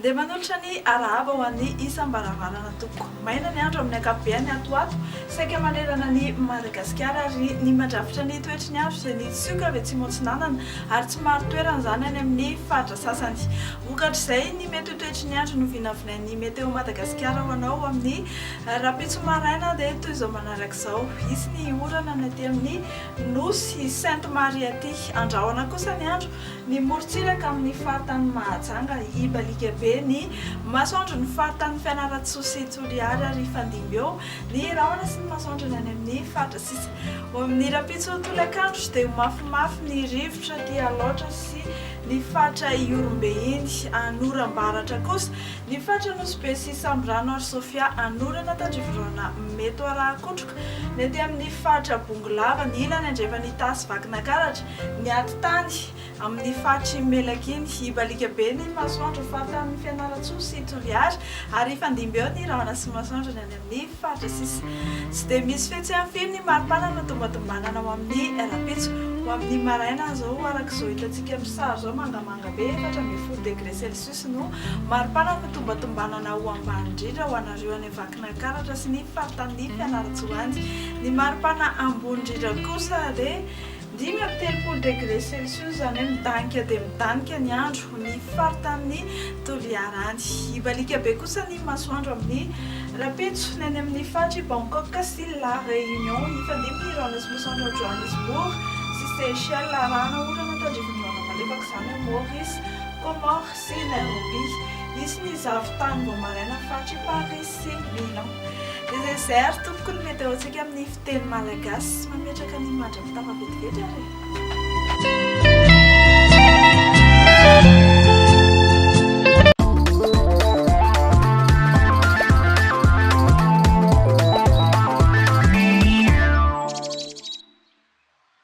Dia manolotra ny arahaba ho an'ny isam-baravarana tompoko. Maina ny andro amin'ny ankapobeny ato ho ato, saika manerana an'i Madagasikara ary ny mandrafitra ny toetry ny andro izay nitsioka avy atsimo atsinanana ary tsy maro toerana izany any amin'ny faritra sasany. Vokatr'izay, ny mety ho toetry ny andro no vinavinain'ny Meteo Madagasikara ho anao amin'ny Ary rahampitso maraina dia toy izao manaraka izao, hisy ny orana ny aty amin'ny Nosy Sainte Marie aty. Andrahona kosa ny andro, ny morontsiraka amin'ny faritanin'i Mahajanga, hibaliaka be ny masoandro ny faritanin'i Fianarantsoa sy Toliary ary hifandimby eo ny rahona sy ny masoandro ny any amin'ny faritra sisa. Ho amin'ny rahampitso tolakandro dia ho mafimafy ny rivotra aty Alaotra sy ny faritra Ihorombe iny. Any Orambaratra kosa Ny faritra Nosy-Be sy Samborano ary Sofia anorana tandriviroana Meto Arahakotroka, ny aty amin' ny faritra Bongolava, ny ilany andrefan' Itasy Vakinakaratra, ny atitany amin' ny faritr' i Melakiny, Ibalikabe ny masoandro faritanin' ny Fianarantsoa sy Toliary, ary hifandimby eo ny rahona sy masoandro ny any amin' ny faritra sisa. Tsy dia misy fihetseham pino ny maripana no tombatombanana ho amin' ny rahampitso. Ho amin' ny maraina izao, araka izao hitantsika amin' ny sary izao, mangamanga be, efatra ambin'ny folo degre celsius. Jesosy no maripana ny tombatombanana ho ambany indrindra ho anareo any Vakinankaratra sy ny faritanin'ny Fianarantsoanjy. Ny maripana ambony indrindra kosa dia dimy amby telopolo degré celsius, izany hoe midanika dia midanika ny andro ny faritanin'ny Toliara any. Hibaliaka be kosa ny masoandro amin'ny rahampitso ny any amin'ny faritr' i Bangkok sy La Réunion. Hifandimby ny rahona sy masoandro ao Johannesburg sy Seychelles arahana orana tandrifin'ny rahona malefaka izany ao Maurice. Comores sy Nairobi. Hisy ny zavon-tany vao maraina faritry Paris sy Milan. Desert tompoko ny meteontsika amin'ny fiteny malagasy. Mametraka ny image fitafy vetivety ary e.